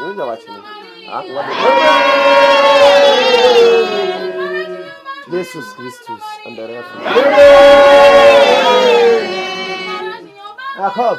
Ngoja wache. Ah, Jesus Christus an der Erde. Jakob.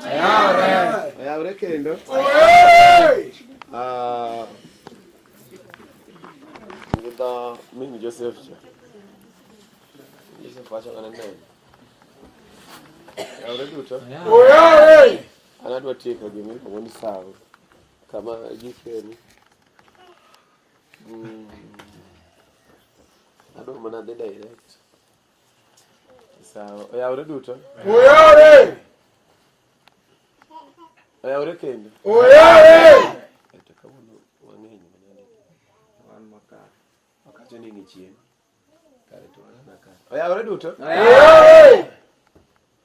Oyawre kendo. Ah, Ngidha mimi Joseph cha. Joseph acha kana nene. Oyawre duto. An adwa tieko gima iluongo ni sawo kama gikeni. Mm, Adwa mana dhi direct. Sawa. Oyawre duto. Oyawre. Oyawre kendo. Oyawre. Eto kawuono wang'eny manani. Wan makar. Wakacho ni ng'ichien. Kare to wan makar. Oyawre duto. Oyawre.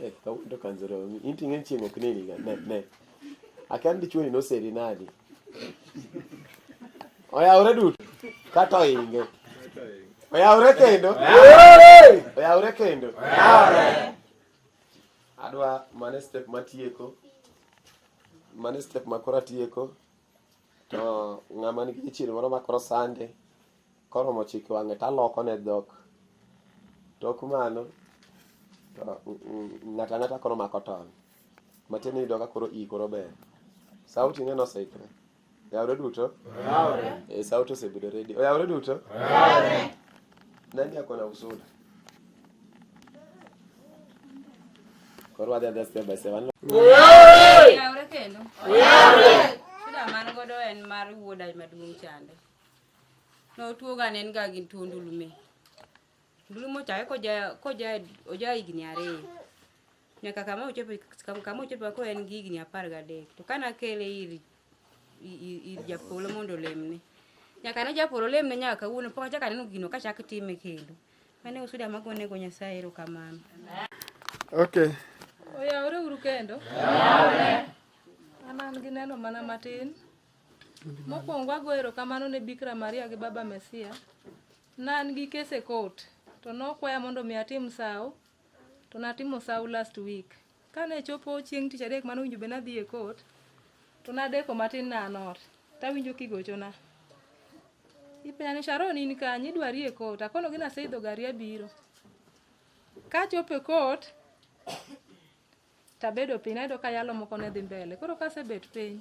Eh, ndo kanzoro inti ngen chiengo kneli ga ne ne akan di chuoni no seri nadi oya ore dut kato inge oya ore kendo oya ore kendo adwa mane step matieko mane step makora tieko to ng'ama nigi chichiere moro makoro sande Koromo chik wang'e to alokone dhok. Tok mano to ng'ato ang'ata koro mako ton. Matiende ni iyudo ka koro iyi koro ber. Sauti ne noseikre. Oyawre duto? Oyawre. E, sauti osebedo ready. Oyawre duto? Oyawre. Nani ako na usuda? Koro wadhi adhi step by step. Oyawre! Oyawre kendo. Oyawre! Shida man godo en mar wuoda maduong' chande. Notuoga ne en ga gi tuo ndulume. Ndulume ochake koja koja oja higni ariyo. Nyaka kama ochope kama ochope ko en gi higni apar gadek. To kana kele ir ir japolo mondo lemne. Nyaka ne japolo lemne nyaka kawuono pok achaka neno gino kachak time kendo. Mane usuda magone go Nyasaye erokamano. Okay. Oyawore uru kendo. Oyawore. An an gi neno mana matin. Mokwongo ago erokamano ne Bikra Maria gi Baba Mesia. Ne an gi kes e court to nokwaya mondo mi atim sawo to natimo sawo last week. Kane chopo chieng' tich adek mane owinjo bed nadhi e court to nadeko matin ne an ot tawinjo kigochona. Ipenja ni Sharon in kanye idwari e court akonogi naseidho gari abiro. Kachopo e court Tabedo piny ayudo ka yalo moko ne dhi mbele. Koro kasebet piny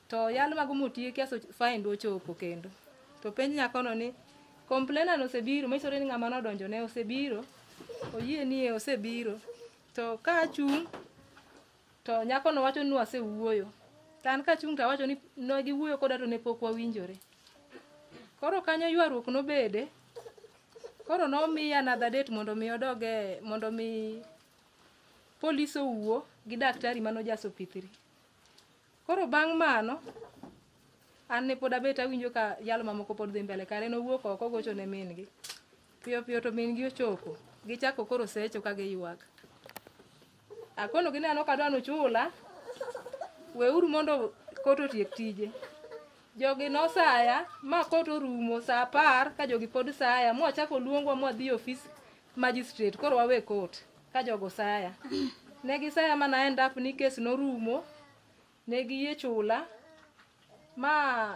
to yalo mago motieki aso fine do chopo kendo. To penj nyakono ni complainer osebiro, misore ni ng'ama nodonjo ne osebiro, oyie ni e osebiro. To ka achung' to nyakono wacho ni wasewuoyo. To an kachung' to awacho ni ne giwuoyo koda to ne pok wawinjore. Koro kanyo ywaruok nobede, koro nomiya another date mondo mi odoge mondo mi Polis owuo gi daktari mano jaso pithiri. Koro bang' mano, an ne pod abet awinjo ka yalo mamoko pod dhi mbele kare nowuok oko ogocho ne min gi. Piyo piyo to min gi ochopo. Gichako koro secho ka giywak. Akono gi neno kadwa nuchula. Weuru mondo koto tiek tije. Jogi nosaya ma koto rumo sa apar ka jogi pod saya. Mwachako luongwa mwadhi ofis Magistrate, koro wawe court ka jogo saya. Ne gisaya ma na end up ni kes norumo, ne giyie chula ma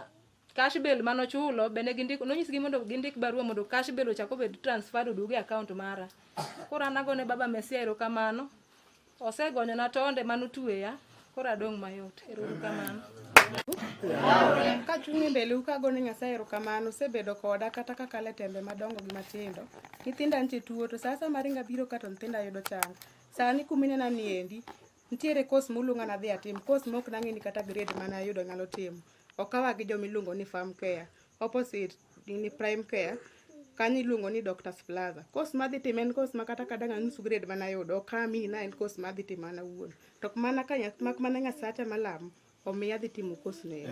cash bail mano chulo be ne gindiko nonyisgi mondo gindik barua mondo cash bail ochak obed transferred oduog e account mara. Koro an agone baba Mesia erokamano Osegonyona tonde mane otueya, koro adong' mayot. Ero uru kamano. Kachung' e mbeleu kago ne Nyasaye erokamano, osebedo koda kata kakalo e tembe madongo gi matindo. Nyithinda nitie tuo, to sa asaya maringa biro ka to nyithinda yudo chango. Sani kuminena ni endi, nitiere kos muluonga nadhi atim, kos mok nang'e ni kata grade mane ayudo nyalo timo. Okawa gi jomiluongo ni farm care. opposite ni prime care kanyo iluongo ni doctors plaza course madhi timo en course ma kata kadang' anus grade mana yudo ok ami na en course madhi timo an awuon to mana ka nya- mak mana nyasacha malamo omiya adhi timo course no ero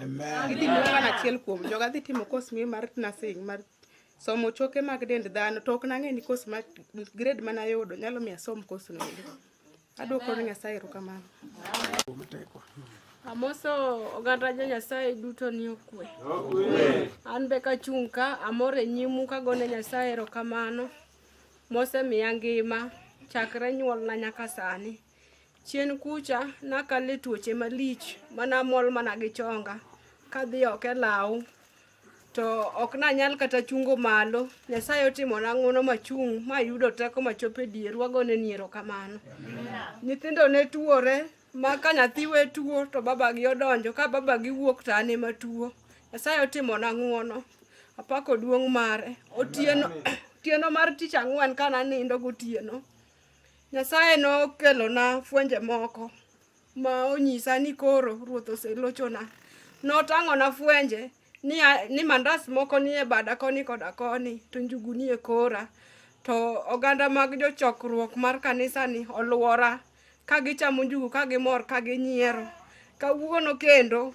idhi miyo mana achiel kuom joga adhi timo course miyo mar nursing mar somo choke mag dend dhano to ok nang'e ni course ma grade mana yudo nyalo miyo asom course no ero Adwoko ne Nyasaye erokamano. Amoso oganda jo Nyasaye duto ni okwe. An be kachung' ka amor e nyimu kagone Nyasaye erokamano mosemiya ngima chakre nyuolna nyaka sani. Chien kucha nakalo e tuoche malich manamol mana gi chonga kadhi oko e law to ok nanyal kata chungo malo nyasaye otimona ng'uono machung' mayudo teko machopo e dier wagone ni erokamano nyithindo ne tuore ma ka nyathi we tuo to babagi odonjo ka babagi wuok to an ema tuo nyasaye otimona ng'uono apako duong' mare otieno otieno mar tich ang'wen ka nanindo gotieno nyasaye nokelona fwenje moko ma onyisa ni koro ruoth oselochona. Notang'ona fwenje ni, a- ni mandas moko nie bada koni koda koni, to njugu nie kora. To oganda mag jochokruok mar kanisani olwora, ka gichamo njugu, ka gimor, ka ginyiero. Kawuono kendo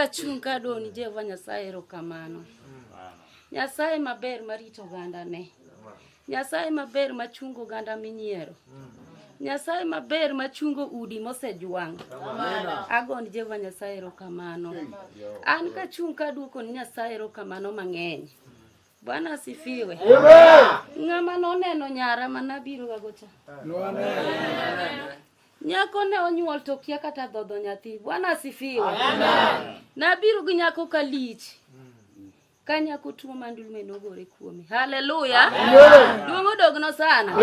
Kachunga doni Jehova Nyasaye erokamano. Nyasaye maber marito ogandane. Nyasaye maber machungo oganda minyiero. Nyasaye maber machungo udi mosejwang'. Agon Jehova Nyasaye erokamano. An kachung' kaduoko ni Nyasaye erokamano mang'eny. Bwana asifiwe. Ng'ama noneno nyara manabiro gagocha. Nyako ne onyuol to kia kata dhodho nyathi. Bwana asifiwe. Nabiru gi nyako ka lich. ka nyako tuo ma ndulme nogore kuome haleluya duong' odogno sana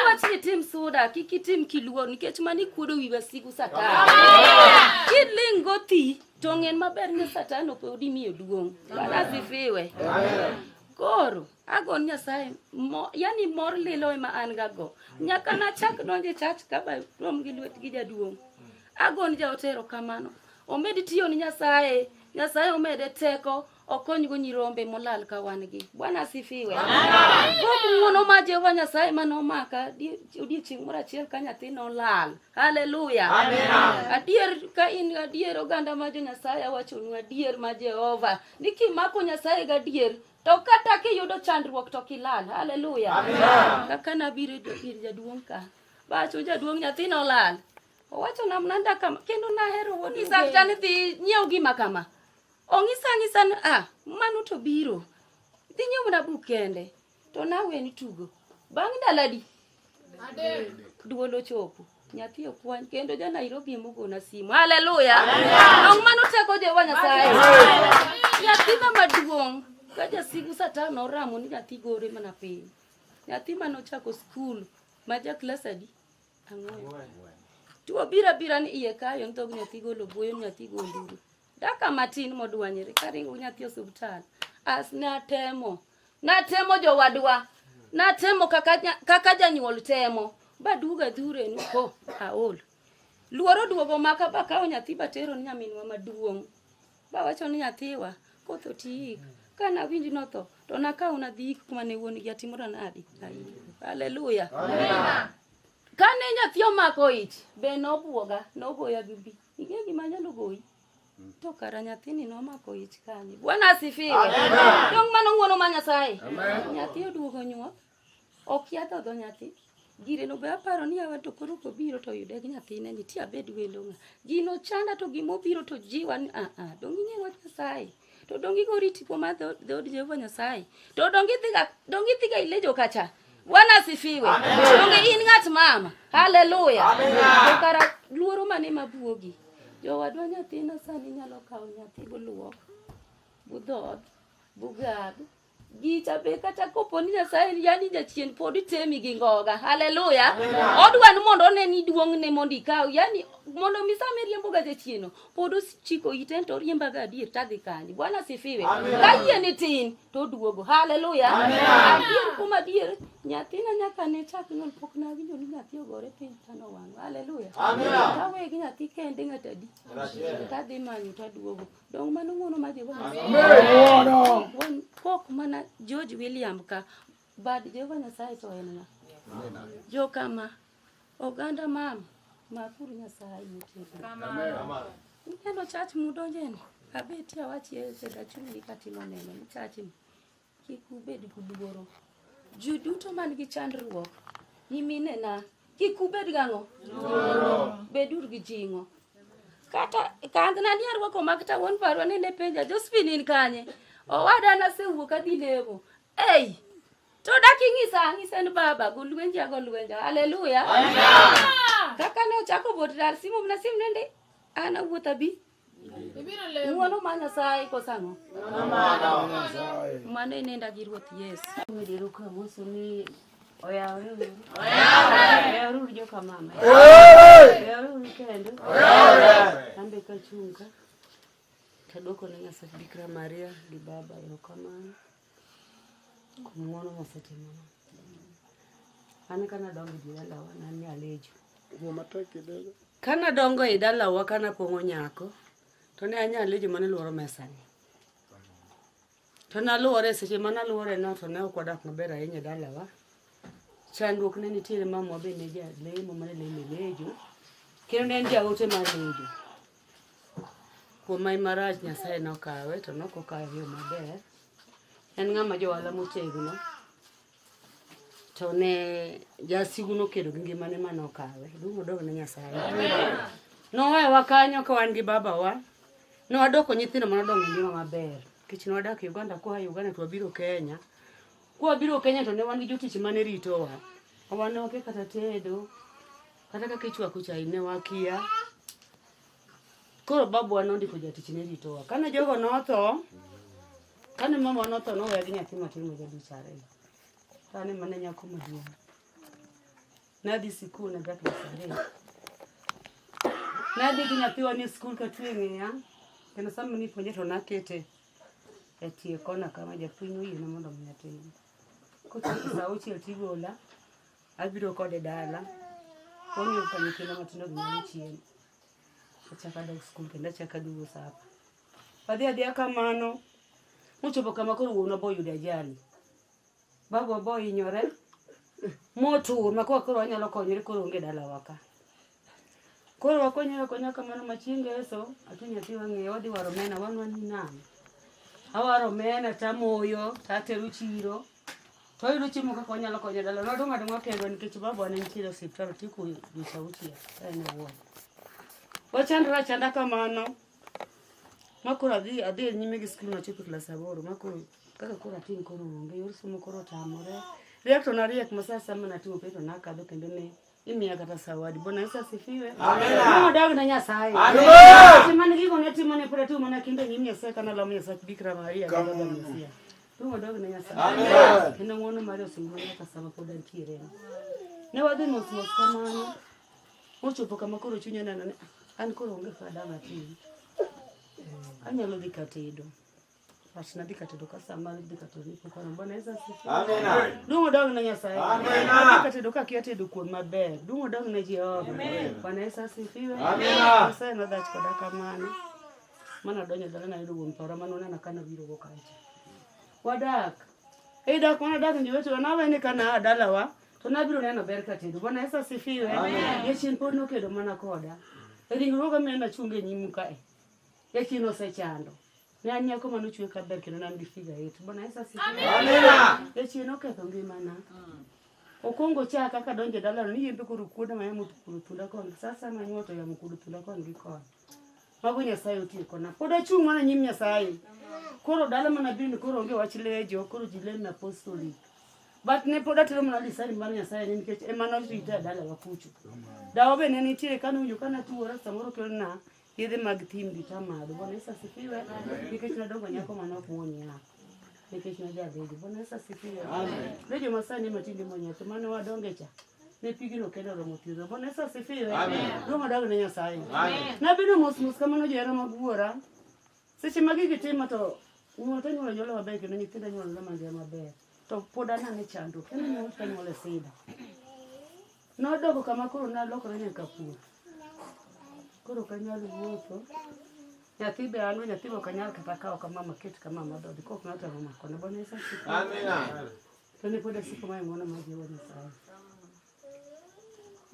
wach ni tim suda kik itim kiluor nikech mani kuodo wi wasigu satan kiling' gothi to ng'en maber ni satan ok odi miyo duong' barasifiwe koro agon nyasaye mo, yani mor lilo ema an gago nyaka nachak donje chach kaba rom gi lwet gi jaduong' agon jaotero kamano omed tiyo ni nyasaye Nyasaye omede teko okonygo nyirombe molal ka wan gi. Bwana asifiwe. Kuom ng'wono ma Jehova Nyasaye ma nomaka die- odiechieng' moro achiel ka nyathi nolal. Haleluya. Adier ka in gadier oganda ma jo Nyasaye awachonu adier ma Jehova ni kimako Nyasaye gadier to kata kiyudo chandruok to kilal. Haleluya. Kaka nabiro ir jaduong' ka. Bacho jaduong' nyathi nolal. Owacho na mnanda kama kendo nahero wuod Ng'isa Mgeni. tani dhi nyiew gima kama. Ong'isa ng'isa ni ah mano to biro. Dhi nyiew na buk kende. To nawe ni tugo. Bang' ndalo adi? Duol ochopo. Nyathi okwany kendo ja Nairobi emogona simu. Haleluya. Dong' mano teko Jehova Nyasaye. Nyathi ma maduong' ka jasigu satan oramo ni nyathi gore mana piny. Nyathi mane ochako skul ma ja klas adi? Ang'wen. Tuo bira bira ni iye kayo ntog nyathi golo buoyo nyathi gonduru. Daka matin modwanyere karingo nyathi osiptal. As natemo. Natemo jowadwa. Natemo kaka kaka janyuol temo. Baduga dhure ni ko aol. Luoro duogo maka bakawo nyathi batero ni nyaminwa maduong'. Bawacho ni nyathiwa koth otiik. Ka nawinj notho to nakaw nadhi ik kuma ne wuon gi atimora nadi. Haleluya. Kane nyathi omako ich be nobwoga nogoya gi bi. Ing'e gima nyalo goyi? To kara nyathini nomako ich kanye. Bwana asifiwe. Dong' mano ng'wono ma Nyasaye. Nyathi oduogo nyuol. Okia dhodho nyathi. Gire no be aparo ni awa to koro kobiro to yude gi nyathine ni ti abed wendo ng'a. Gino chanda to gimo biro to jiwa ni ah ah dongi ng'e wach Nyasaye. To dongi go riti kuom adho dhod Jehova Nyasaye. To dongi dhiga dongi dhiga ile jo kacha. Bwana asifiwe. Dongi in ng'at mama. Haleluya. Amen. Kara luoro mane mabuogi. Jowadwa nyathina sani nyalo kawo nyathi buluok. Budhoth. Bugad. gicha be kata kopo ni nyasaye yani jachien pod itemi gi ngoga haleluya odwa ni mondo one ni duong'ne mondo ikaw yani mondo mi sama iriembo ga jachieno pod ochiko ite to oriemba ga adier tadhi kanye bwana sifiwe ka yie ni tin to duogo haleluya adier kuom adier nyathina nyaka ne chak nyuol pok nawinjo ni nyathi ogore piny tano wang' haleluya kawegi nyathi kende ng'atadi tadhi manyo taduogo Dong mano ng'uono mar Jehova Nyasaye. Ng'uono. Wan kok mana George William ka bad Jehova Nyasaye to en ng'a? Jo kama oganda mam makuru Nyasaye nitie. Ineno chach mudonjeni. Abeti awachi e dachungi katimo neno ni chachni. Kik ubed gi luoro. Ji duto man gi chandruok, nyiminena, kik ubed gang'o? Luoro. Bedur gi jing'o. Kata kandhna ni arwako mag ta wuon parwa ni ne penja, Josephine in kanye? Owada nasewuok adhi lemo. Ei! To dak ing'isa ang'isa en baba, go lwenja go lwenja. Haleluya. Kaka ne ochako bot dar simu na sim nende, an awuotha bi. Ibiro lemo. Wuono ma Nyasaye kosa ang'o? Mano inenda gi Ruoth Yesu. Midiro ka Musa ni oyawre uru. Oyawre uru joka mama. Oyawre uru kendo. Oyawre. Ambe ka chunga. Tadwoko ne Nyasaye Bikira Maria gi Baba erokamano. Kuom ng'wono mosetimona. An ka nadongo e dalawa ne an nyalejo. Wuo matek kidogo. Ka nadongo e dalawa ka napong'o nyako, to ne anyalejo mane lworo mesani. To naluwore seche ma naluwore no to ne ok wadak maber ahinya e dalawa. Chandruok ne nitiere mamwa be ne jalemo mane lemo e lejo, kendo ne en jaote mar lejo. Kuom mai marach Nyasaye nokawe to nok okawe yo maber. En ng'ama jowala motegno to ne jasigu nokedo gi ngimane ma nokawe. Duong' odog ne Nyasaye. Nowewa kanyo ka wan gi babawa. Ne wadoko nyithindo ma nodongo e ngima maber. Nikech ne wadak Uganda kwa Uganda to wabiro Kenya. Kwa biro Kenya to ne wan gi jotich mane ritowa. Wan ne wakia kata tedo. Kata kaka ichwako chai ne wakia. Koro babu wa nondiko jatich ne ritowa. Kane jogo notho, kane mama notho noweya gi nyathi matin ma jadich ariyo. To an ema ne nyako maduong'. Nadhi sikul ne dak na sadek. Nadhi gi nyathiwa ni skul katwe ng'eya. Kendo sama nipuonje to nakete e tie kona kama japuonj oyiena mondo mi atim. Kochopo sa auchiel tigola. Abiro kode dala. Onge ka nyithindo matindo gi nyalo chiemo. Achaka dog skul kendo achaka dugo sapa. Adhi adhiya kamano. Mochopo kama koro wuon obo yudo ajali. Babu obo hinyore. Motur ma koro koro wanyalo konyore koro onge dalawa ka. Koro wakonyo akonya kamano ma chieng' ngeso ati nyathi wang'eyo wadhi waro omena wan wan ni nang'o? Awaro omena tamoyo tatero chiro to ayudo chiemo kaka wanyalo konyo dala. Wadong' adong'a kendwa nikech babawa ne nitiere e osiptal otieko dweche auchiel ka en e ward. Wachandore achanda kamano ma koro adhi adhi e nyime gi skul nachopo e klas aboro ma koro kaka koro atin koro onge yor somo koro otamore. Riek to nariek ma sa asaya ma natimo penj to nakadho kendo ne imiya kata sawadi bwana yesu asifiwe nodago na nyasaye timane gigo ne timo ne pod atimo mana kinde nyim nyasaye kana lamo nyasaye bikra maria mesia nodago na nyasaye kendo ng'wono mare osingona nyaka sama pod antiere ne wadhi mos mos kamano mochopo kama koro chunya neno ni an koro onge fada matin anyalo dhi katedo Asinadi katedo kasama di katoni kukono mbona eza sifi. Amen. Dungo dog na nyasaye. Amen. Adi katedo ka kia tedo kuon maber. Dungo dog na Jehova. Amen. Bwana Yesu asifiwe. Amen. Nyasaye na dhach koda kamano. Mana donyo dala na yudo wuon paro mano nana kana biro go kacha. Wadak. Ei dak mana dak ni wetu na wene kana dala wa. To na biro neno ber katedo. Bwana Yesu asifiwe. Amen. Yechin pod nokedo mana koda. Ringruoga mena chunge nyimu kae. Eki nosechando. Ne an nyako mane ochwe ka ber kendo ne an gi figa it. Bwana Yesu asifiwe. Amina. Eki noketho ngimana. Okongo cha kaka donje dala ni yembe koro kuoda ma yamo kuodo tunda kon. Sasa ma nyoto yamo kuodo tunda kon gi kon. Mago Nyasaye otiyo kona. Pod achung' mana nyim Nyasaye. Koro dala mana bin koro onge wach lejo, koro ji lem na apostolic. But ne pod atero mana lisani mar Nyasaye ni nikech ema norita e dala wa kucho. Dawa be ne nitiere kane winjo kana tuwora samoro kelna Yedhe mag thim gi tamadho. Bwana Yesu asifiwe. Nikech nadongo nyako mane ok muon nyako. Nikech najabedo. Bwana Yesu asifiwe. Ne joma sani matinde muon nyako mane wadonge cha. Ne pigino kendo romo thiedho. Bwana Yesu asifiwe. Duong' odag ne Nyasaye. Nabedo mos mos kamano johera mag wuora. Seche ma gigi timo to nyuol to nyuol nyuol maber kendo nyithindo nyuol nyuol mangima maber to pod anane chandruok kendo nyuol to nyuol e sida. Nodoko kama koro nalokore nyaka pur. Koro ok anyal wuotho. Nyathi be an nyathi be ok anyal kata kawo kama maket kama madhodhi kok ng'ato ema makone. Bwana Yesu asifiwe. Amina. To ne pod asiko mae ng'wono mar Jehova Nyasaye.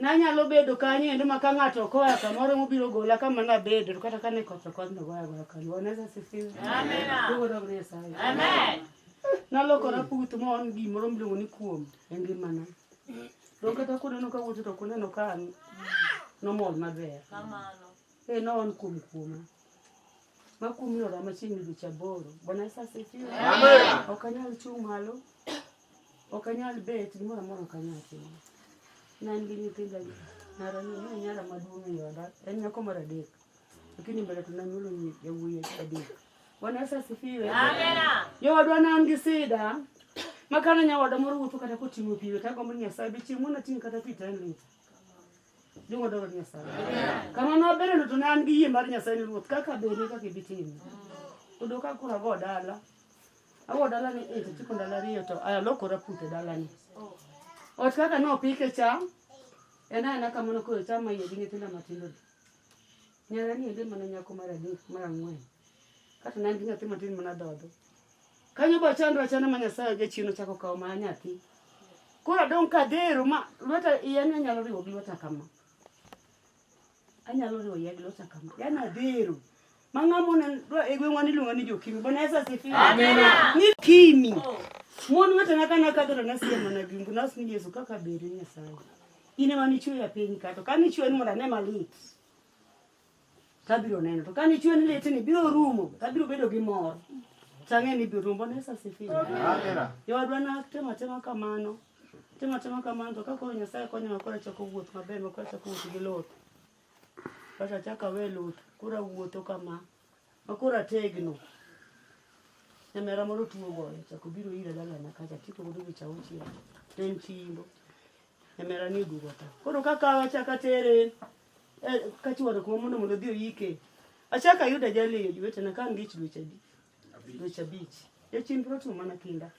Nanyalo bedo kanyo endo ma ka ng'ato okoya kamoro mobiro gola kama nabedo to kata kane koth okoth nogoya goya kanyo. Bwana Yesu asifiwe. Amen. Duogo dog ni Nyasaye. Amen. Nalokora puth ma on gimoro miluongo ni kuom e ngimana. Dong kata kuneno ka wuotho to kuneno ka an nomol maber. Kamano. Eh, no on kuom kuoma. Ma kuom yora machiegni dweche aboro. Bwana Yesu asifiwe. Amen. Ok anyal chung' malo. Ok anyal bet, gimoro amora ok anyal timo. Ne an gi nyithinda gi nyara ni, ne nyara maduong' ei oda, en nyako mar adek. Lakini mbele to nanyuolo nyi- yawuoyi adek. Bwana Yesu asifiwe. Jowadwa ne an gi sida, ma kane nyawadwa moro wuotho kata koting'o pi, to agombo ni Nyasaye be chieng' moro nating' kata pi to en lita. Jong'o dwaro ni Nyasaye. Kamano abereno to ne an gi yie mar Nyasaye ni Ruoth kaka beri kaka ibi timo. Kodo ka koro ago dala, Awo dalani e tichiko ndalo ariyo to alokora pute dalani. Ot kaka nopike cham en aena kamano koro cham maiye gi nyithinda matindo gi. Nyara ni ende mana nyako mar adek mar ang'wen. Kata ne an gi nyathi matin mana dhodho. Kanyo ba chandra chana ma Nyasaye oja chino chako kawo ma nyathi. Koro adong' kadhero ma lweta iya ne nyalo riwo gi lweta kama. anyalo riwo yadh lota kama yani adhero mang'amo ne e gweng'wa niluongo ni jokimi bwana yesu asifiwe ni kimi mon wetena ka nakadho to nasiye mana gimbu nas ni yesu kaka beri nyasaye in ema nichweya piny ka to ka nichwe ni mondo ane malit tabiro neno to ka nichwe ni lit ni biro rumo tabiro bedo gi mor tang'e ni biro rumo bwana yesu asifiwe yowadwa natemo atema kamano Timo timo kamano to kakoro Nyasaye konyowa koro achako wuoth maber ma koro achako wuoth gi luth. Koro achako awe luth koro awuotho kama ma koro ategno. Nyamera moro tuo goyo chako biro ira dalana kacha tipo godo dweche auchiel to en chi imbo. Nyamera ni oduogo ta. Koro kakawe achako atere eh, kachwado kuma mondo mondo odhi oyike. Achako ayudo ajali e jowetena ka an gi ich dweche adi. dweche abich e chenro timo mana kinda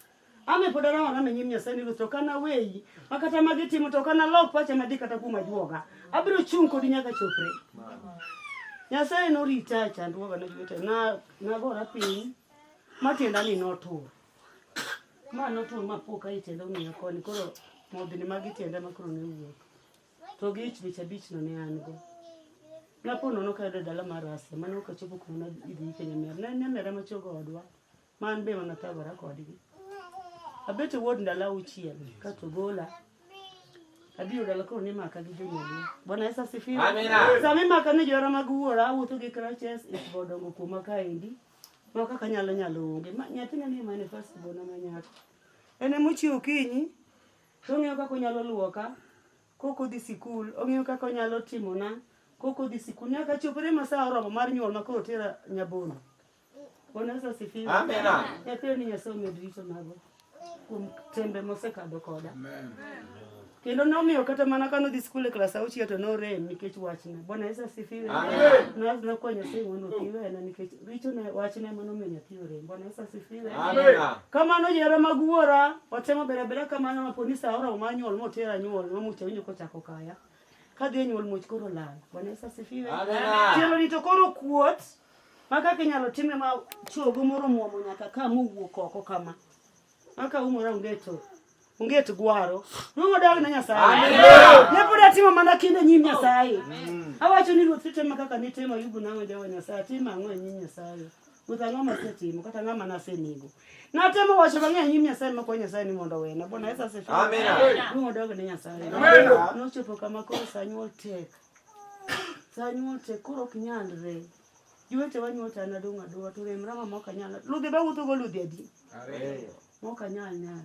ame pod araora me nyim nyasaye ni ruoth to kana weyi ma kata ma gitimo to kana lok pacha madhi kata kuom ajuoga abiro chung' kodi nyaka chopre nyasaye norita e chandruoga ne jowete na nagora piny ma tienda ni notur ma notur ma poka e tienda ong'iya koni koro modhini mag tienda ma koro ne wuok to gi ich bich abich no ne an go napo nono ka yudo dala mar Asia mane ok achopo kuma idhi ike nyamer ne en nyamera machogo odwa ma an be mana thagora kodgi abet e wuod ndalo auchiel ka to gola abiro dala koro nimaka gi jonyuolwa bwana yesu asifiwe Amina. sama imaka ni johera mag wuora awuotho gi crutches isbo dongo kuoma kaendi ma kaka nyalo nyalo onge Ma- nyathina ni manifest bona ma nyako en emochiew okinyi To ong'eyo kaka onyalo luoka kok odhi sikul, ong'eyo kaka onyalo timona kok odhi sikul. Nyaka chopre ma sa oromo mar nyuol ma koro otera Nyabondo. Bwana Yesu asifiwe. Amina. Nyathino ni Nyasaye omed rito mago kuom tembe mosekadho koda. Kendo nomiyo kata mana kane odhi sikul e klas auchiel to norem nikech wachna. Bwana Yesu asifiwe. Amen. Nawachna kwa Nyasaye mondo othiwena nikech Richo ne wachne mano miyo nyathi orem. Bwana Yesu asifiwe. Amina. Kamano jera mag wuora watemo bere bere kamano ma poni sa oro ma nyuol motera nyuol ma mucha winjo kochako kaya. Ka dhi e nyuol much koro lal. Bwana Yesu asifiwe. Amina. Tielo ni to koro kuot ma kaka inyalo time ma chogo moro muomo nyaka ka mowuok oko kama. Maka umora ungeto. Unget gwaro. Nungo dag na Nyasaye. Ne pod atimo mana kinde nyim Nyasaye. Awacho ni ruoth titema kaka nitimo yubu nango jawa Nyasaye. Timo ang'o e nyim Nyasaye? Ruoth ang'o masetimo kata ng'ama nasenego? Natemo wacho mang'eny nyim Nyasaye makwa Nyasaye ni mondo wena. Bwana Yesu asifiwe. Amina. Nungo dag na Nyasaye. Nochopo kama koro sa nyuol tek. Sa nyuol tek koro ok nyalre. Jowete wa nyuota an adong' adong'a to rem rama mok anyal. Ludhi ba wuotho go ludhi adi? Ariyo. Mok anyal nyal.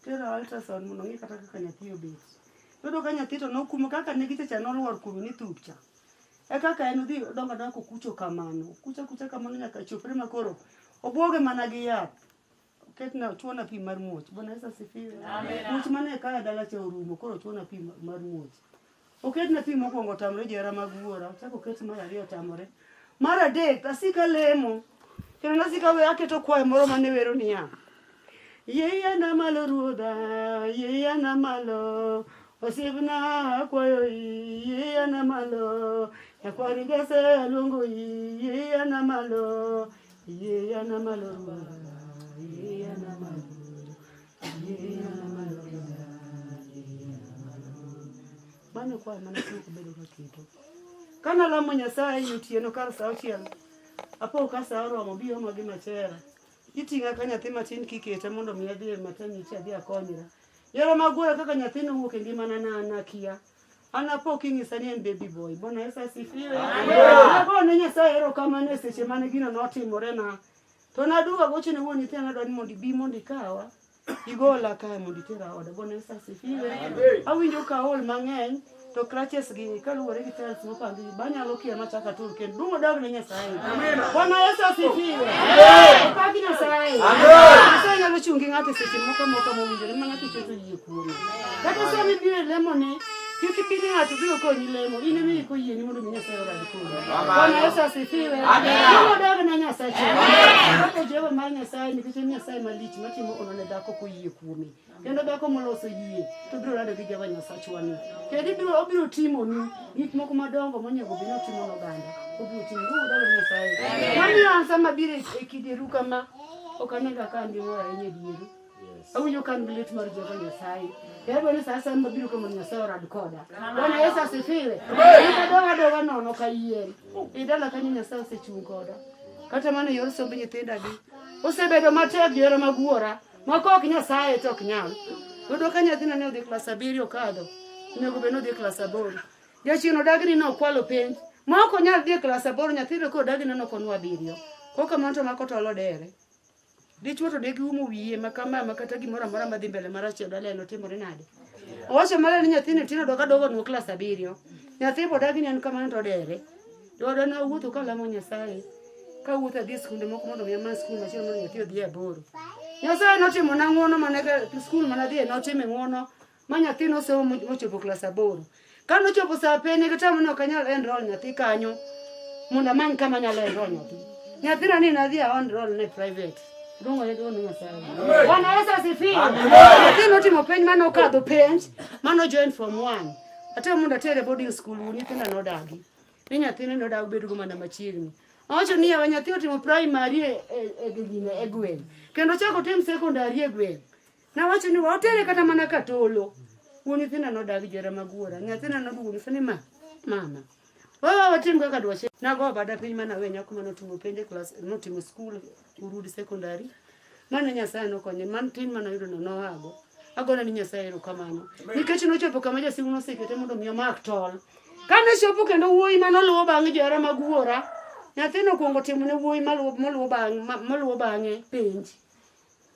Tera ultrasound mondo ng'e kata kaka nyathi obet. Yudo ka nyathi to nokumo kaka ne gichecha noluor kuno ni thupcha. E kaka en odhi odongo adonga kokucho kamano. Kucha kucha kamano nyaka chopre ma koro obwoge mana gi yath. ketna chuona pi mar muoch bwana yesu asifiwe much mane kaya dala cha orumo koro chuona pi ma- mar muoch oketna pi mokwongo otamore jera mag wuora ochako oket mar ariyo otamore mar adek asika lemo kendo nasika we aketo kwayo moro mane wero niya yeya na malo ruodha yeya na malo osiepna akwayo i yeya na malo nyakwari gese aluongo i yeya na malo Mano kwa mana kama kubedo kwa kitu. Kana lamo Nyasaye yutieno kar sa auchiel. Apo ka sa oromo bi omo gi machera. Iting'a ka nyathi matin kikete mondo mi adhi e maternity adhi akonyra. Yore mag wuoyo kaka nyathino wuok e ngimana na nakia. An apo kinyisa ni en baby boy. Bwana Yesu asifiwe. Apo ne Nyasaye ero kama ne seche mane gino notimore na. To na duwa goche ne wuon nyithindo adwa ni mondo ibi mondo ikawa. Igola kae mondo itera oda. Bwana Yesu asifiwe. Awinjo ka ol mang'eny to crutches gi kaluwore gi tiles mopang Banyalo kia machaka tur kendo duong' odog ne Nyasaye. Amen. Bwana Yesu asifiwe. Amen. Pagi Nyasaye. Amen. Nyasaye nyalo chungi ng'ato seche moko moko mowinjore ma ng'ato keto yie kuome. Kata sa mibiro e lemo ne kik ibed ng'ato biro konyi lemo in emi iko yieni mondo mi Nyasaye orad kodi. Bwana Yesu asifiwe. Amen. Duong' odog ne Nyasaye. Amen. Kaka Jehova mar Nyasaye nikech en Nyasaye malich matimo ono ne dhako koyie kuome. kendo dhako moloso yie to biro lando gi Jehova Nyasachwa ni kendo ibiro obiro timoni gik moko madongo monego obed ni otimo n'oganda obiro timo udalo Nyasaye mamiyo an sama biro e kidieru kama ok anega ka an gi mor ahinya e dieru awinjo ka an gi lit mar Jehova Nyasaye yadwa ni saa asaya mabiro kama Nyasaye orad koda Bwana Yesu asifiwe eka doga doga nono ka yien e dala kanyo Nyasaye osechung' koda kata mana e yor somb nyithinda gi osebedo matek yore mag wuora Moko ok nyasaye to ok nyal. Yudo ka nyathina ne odhi klas abiriyo kadho, onego bed ni odhi klas aboro. Jachien odagni ne okwalo penj. Ma ok onyal dhi e klas aboro nyathino ka odagni ne ok onwa abiriyo. Kok kamano to mako tolo dere. Dichwo to degi umo wiye ma kama ma kata gimoro amora madhi mbele marach e dala eno timore nade. Owacho maler ni nyathini tino doka dogo nwa klas abiriyo. Nyathi bodagni en kamano to odere. Dwaro ne owuotho ka lamo Nyasaye, ka wuotho adhi e skunde moko mondo mi amany skul machielo mondo nyathi odhi e aboro. Nyasaye notimo na ng'uono mane skul mana dhiye notime ng'uono ma nyathi nosomo mochopo klas aboro. Ka nochopo saa pene kata mane ok anyal enroll nyathi kanyo mondo amany kama anyalo enroll nyathi. Nyathina ni nadhi a enroll ne private. Dongo ne dono Nyasaye. Bwana Yesu asifiwe. Nyathi notimo penj mane okadho penj mane ojoin form 1. Ate mondo atere boarding school nyithinda nodagi. ni nyathine nodag bedogo mana machiegni owacho ni yawa nyathi otimo primary e- e- e gine e gweng' kendo ochako otim secondary e gweng' nawacho ni watere kata mana katolo wuon nyithinda nodag jera magwora nyathina noduogo nyisa ni ma mama wawa watim kaka dwache nago bada piny mana we nyako mane otimo penj e klas notimo skul urudi secondary Mano Nyasaye nokonye, man tin mane oyudono noago. Agone ni Nyasaye erokamano. Nikech nochopo kama jasigu nosekete mondo mi omak tol. Kane chopo kendo wuoyi mane oluwo bang'e johera mag wuora, nyathino okuongo timo ne wuoyi maluwo moluwo bang'e ma- moluwo bang'e penj.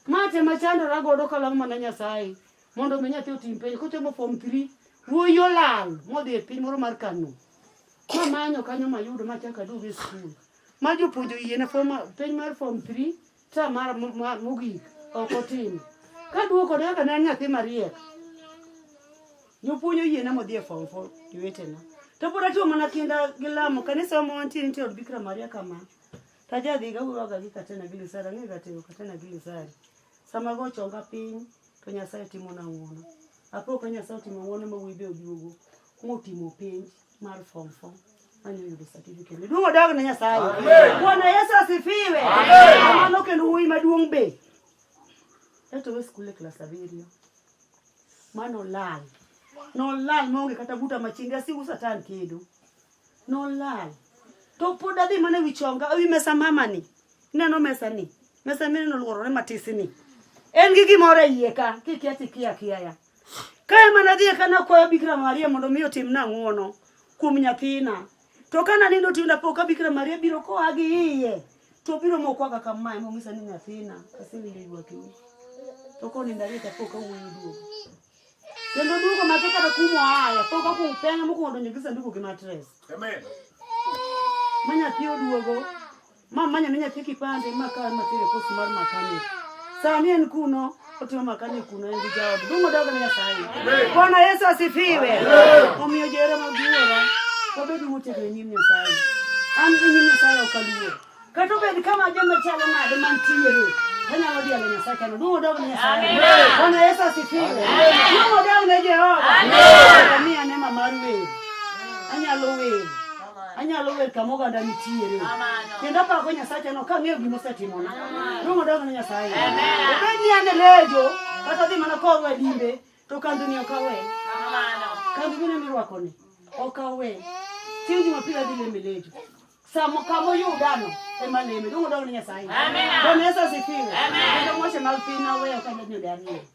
Ma tema chandora godo kalamo mana Nyasaye mondo mi nyathi otim penj kochomo form 3 wuoyi olal modhi e piny moro mar Kano. Mamanyo kanyo mayudo machaka aduogo e skul. ma jopuonjo yiena form penj mar form 3 ta mar mogik ok otim ka duoko ne kaka ne en nyathi mariek jopuonjo yiena modhi e form 4 jowetena to pod atiyo mana kinda gi lamo kanisa ma wantie nitie od bikra maria kama ta jadhi gawuroga gi katena gi lisari ang'e gatero katena gi lisari sama go chonga piny to nyasaye timo na ng'wono apo ka nyasaye otimo ng'wono ma wuoyi be oduogo motimo penj mar form 4 anayudo certificate miduong' odog ne Nyasaye. Bwana Yesu asifiwe. Mano kendo wuoyi maduong' be etowe skul e klas abiriyo mano lal nolal maonge kata buta machinga sigu satan kedo nolal to pod adhi mana ewi chonga ewi mesa mama ni ineno mesa ni mesa mine noluorore matisi ni en gi gimoro e iye ka kikia tikia kiaya Ka ema nadhi eka nakwayo Bikira Maria mondo mi otimna ng'wono kuom nyathina. To ka nanindo tiyo napo ka Bikira Maria biro koa gi iye to biro mokwaga kamae mong'isa ni nyathina asewinjo ywakni. To konindo ariyo to apo ka wuoyi duogo. Kendo duogo matek kata kuma oaye pok okuong peng' mokuongo donjo gi sanduku gi matres. Amen. Ma nyathi oduogo Ma manya ne nyathi kipande ma ka ma tere pos mar makani. Sani en kuno otimo makani kuno en gi jaod. Dongo dogo ne Nyasaye. Bwana Yesu asifiwe. Omiyo jere mag wuora. Wabed motegno e nyim Nyasaye. An gi nyim Nyasaye ok aluor. Kata obed kama joma chalo nade mantiere. Anyalo dhi ale Nyasaye kendo dongo dogo ne Nyasaye. Bwana Yesu asifiwe. Dongo dogo ne Jehova. Amen. Mimi anema mar wer. Anyalo wer. anyalo wer kama oganda nitiere kendo apako nyasacha no kang'eyo gima osetimona dongo dongo ne nyasaye obed ni an e lejo kata dhi mana korwa e limbe to kandhoni ok awe kandhi bine mirwakoni ok awe chieng' jumapil adhi leme lejo samo kama oyudano ema leme dongo dongo ne nyasaye bwana yesu asifiwe kendo moshe mag piny naweyo kandhoni ode ariyo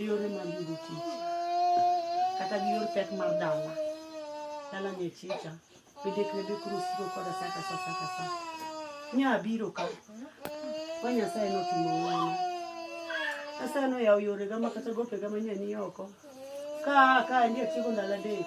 e yore mag yudo tich kata gi yor pek mar dala dala ne chicha bende kwedo kurusiko koda sa ka sa sa ka sa nya abiro ka ma nyasaye notimo ng'wono nyasaye noyawo yorega ma kata gopega manyani oko ka ka ndi atieko ndalo adek